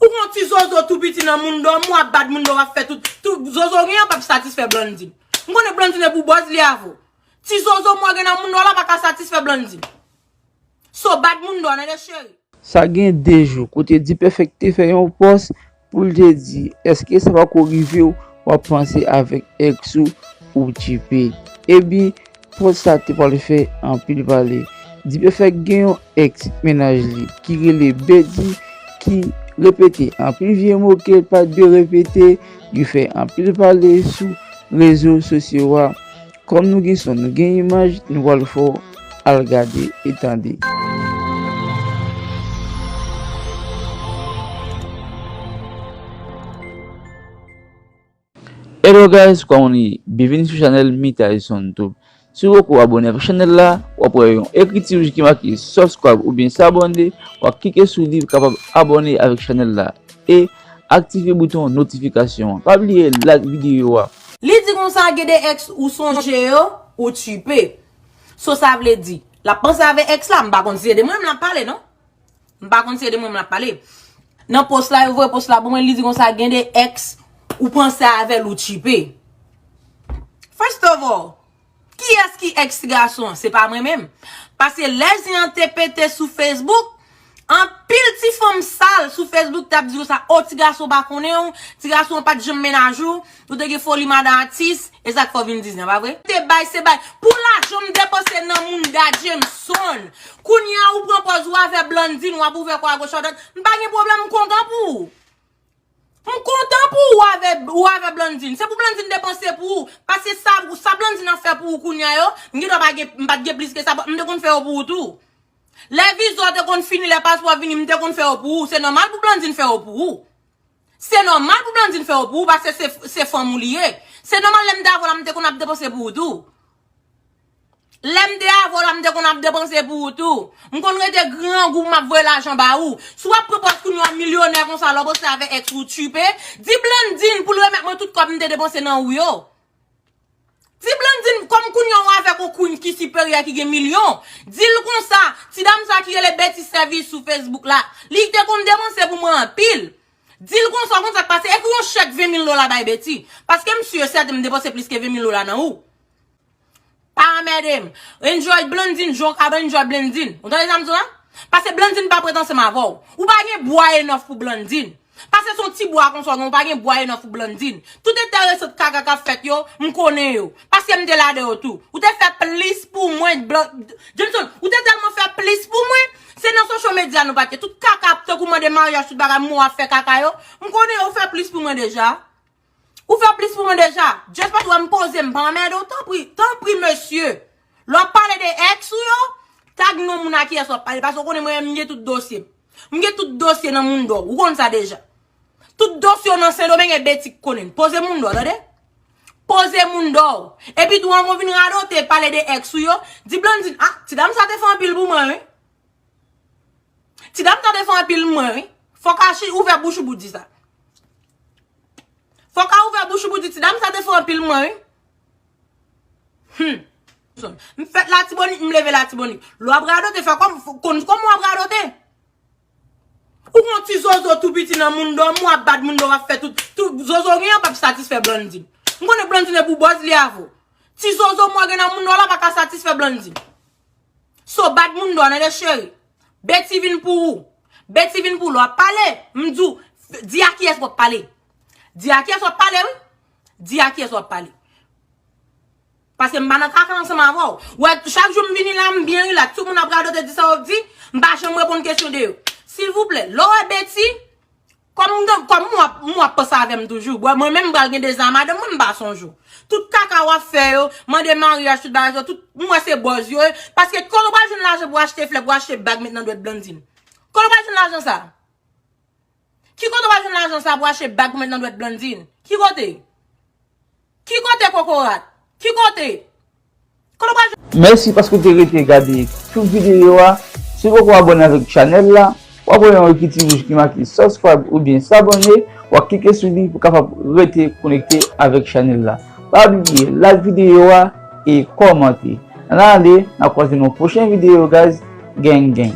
Ou gen yon ti zozo tou piti nan moun dòm ou ap bad moun dòm ap fè tout tout zozo gen an pap satisfè Blandy m konnen Blandy se pou bòz li avèw ti zozo mwen gen nan moun dòm la pa ka satisfè Blandy so bad moun dòm nene cheri. Sa gen 2 jou kote D-Perfect te fè yon pòs pou l te di eske sa pako rive w wap panse avèk ex ou ou tchiipe ebyn. Pòz sa te pwal fè anpil pale. Dipèfèk gen yon ex mennaj li ki rele Bedy ki repete anpil vye mo kel pat dwe repete yo fè anpil pale sou rezo sosyo a kòm nou gen son nou gen imaj nou pwal fè w al gade e tande. Hello guys kòman nou ye byenvini sou chanèl Mitaison tube si ou poko abòne avèk chanèl la wap wè yon ekriti wouj ki make subscribe oubyen s'abonner wap klike sou li pou kapab abòne avèk chanèl la e aktive bouton notifikasyon an pa bliye like videyo a. Li di konsa gen de ex ou sonje yo ou tchipe. So sa vle di lap panse avè ex la m pa konn si se de mwen menm lap pale non. M pa konn si se de mwen m ap pale. Nan post la yo voye post la pou mwen li di konsa gen de ex ou panse avèl ou tchipe. First of all, kiyès ki ex ti gason an? Se pa mwen menm. Paske lè zen an te pete sou Facebook, anpil ti fanm sal sou Facebook t ap di konsa, oh ti gason pa konnen w, ti gason an pa t janm menaj ou. Nou te gen foli madan atis, e sak fè w vin diznya, pa vre? Te bay se bay. Pou lajan m depanse nan mounda Jameson. Kounya ou pran pòz ou avè Blandine wap ouvè kò agoch adwat. M pa gen pwoblèm m kontan pou ou. M kontan pou ou avè ou avè Blandine. Se pou Blandine depanse pou ou. Paske sa sa Blandine ap fè pou ou kounya yo, m gen dwa pa gen m pat gen plis ke sa m te konn fè yo pou ou tou. Lè viza w te konn fini, lè paspò vini m te konn fè yo pou ou. Se nòmal pou Blandine fè yo pou ou. Se nòmal pou Blandine fè yo pou ou paske se fanm ou li ye. Se nòmal lè m te avè w la m te konn ap depanse pou ou tou. Lè m te avè w la m te konn ap depanse pou ou tou. M konn rete grangou pou m ap voye lajan ba ou. Si w ap pran pòz kounye w milyonè konsa lè w panse avè ex ou tchiipe, di Blandine pou l remèt mwen tout kòb m te depanse nan ou yo. Ti Blandine kòm kounya ou avèk on Queen ki siperyè ki gen milyon, di l konsa, ti dam sa ki rele Betty Service sou Facebook la, li te konn depanse pou mwen anpil. Di l konsa, konn sa k pase, ekri on chèk 20 mil dola bay Betty, paske m si e sèten m depanse plis ke 20 mil dola nan ou. Pa anmède m. Enjoy Blandine jan w kab enjoy Blandine. Ou tande sa m di w la? Pase Blandine pa pretansye m avè w. Ou pa gen bwa enough pou Blandine. Pase son ti bwa konsa non ou pa gen bwa enough pou Blandine. Tout enteresant kaka kap fèt yo, m konnen yo. Paske m te ladan yo tou. Ou te fè plis pou mwen Johnson, ou te tèlman fè plis pou mwen, se nan social media nou pat ye. Tout kaka tankou mande maryaj tout bagay mou ap fè kaka yo, m konnen yo ou fè plis pou mwen deja. Ou fè plis pou mwen deja. Just paske ou wè m poze m pa anmède w tanpri, tanpri mesye lè w ap pale de ex ou yo tag non moun a kiyès w ap pale paske ou konnen mwen menm m gen tout dosye m. M gen tout dosye nan Mundo ou konn sa deja. Tout dosye w nan Sendomeng e Betty k konnen l. Poze Mundo tande. Poze Mundo w. Epi tou anvan w vin radote pale de ex ou yo, di Blandine ah ti dam sa te fè anpil pou mwen wi. Ti dam sa te fè anpil mwen wi. Fòk Archi ouvè bouch ou pou w di sa. Fok a ouvè bouch ou pou di ti dam sa te fò anpil mwen wi. Humm. M fèt latibonit m leve latibonit. Lè wap radote fè kòm konn kòman wap radote. Ou gon ti zozo tou piti nan moun dòm ou ap bat moun dòm wap fè tout tout zozo gen an pap satisfè Blandy. M konnen Blandy ne pou bòz li avèw. Ti zozo mwen gen nan moun dòm la paka satisfè Blandy. So bad moun dò nan de cheri. Betty vin pou ou. Betty vin pou ou. Lè w ap pale, m di w, di a kiyès w ap pale. Di a kiyès w ap pale wi. Di a kiyès w ap pale. Paske m pa nan kaka ansanm avè w. Ou wè, chak jou m vini la, m byen rilaks. Tout moun ap radote, di sa yo ap di. M pa janm reponn kesyon de yo. Silvouplè, lè w wè Betty, Kòm kòm ou ap ou ap panse avè m toujou bwè mwen menm m pral gen 2 zan a madanm mwen m pa sonje w tout kaka w ap fè yo mande maryaj tout bagay sa yo tout m wè se bòz yo ye paske kòl ou pral jwenn lajan pou achte flè pou achte bag met nan dwèt Blandine kòl ou pral jwenn lajan sa ki kote ou pral jwenn lajan sa pou achte bag pou met nan dwèt Blandine ki kote. Ki kote kokorat? Ki kote? Kote w pral jwenn. Mèsi paske w te rete gade tout videyo a. Si w poko abòne avèk chanèl la, wap wè yon ekri ti wouj ki make subscribe oubyen s'abonner, wap klike sou li pou w kapab rete konekte avèk chanèl la. Pa bliye like videyo a e kòmante. N ale, n a kwaze nan yon pwochen videyo guys. Gang gang.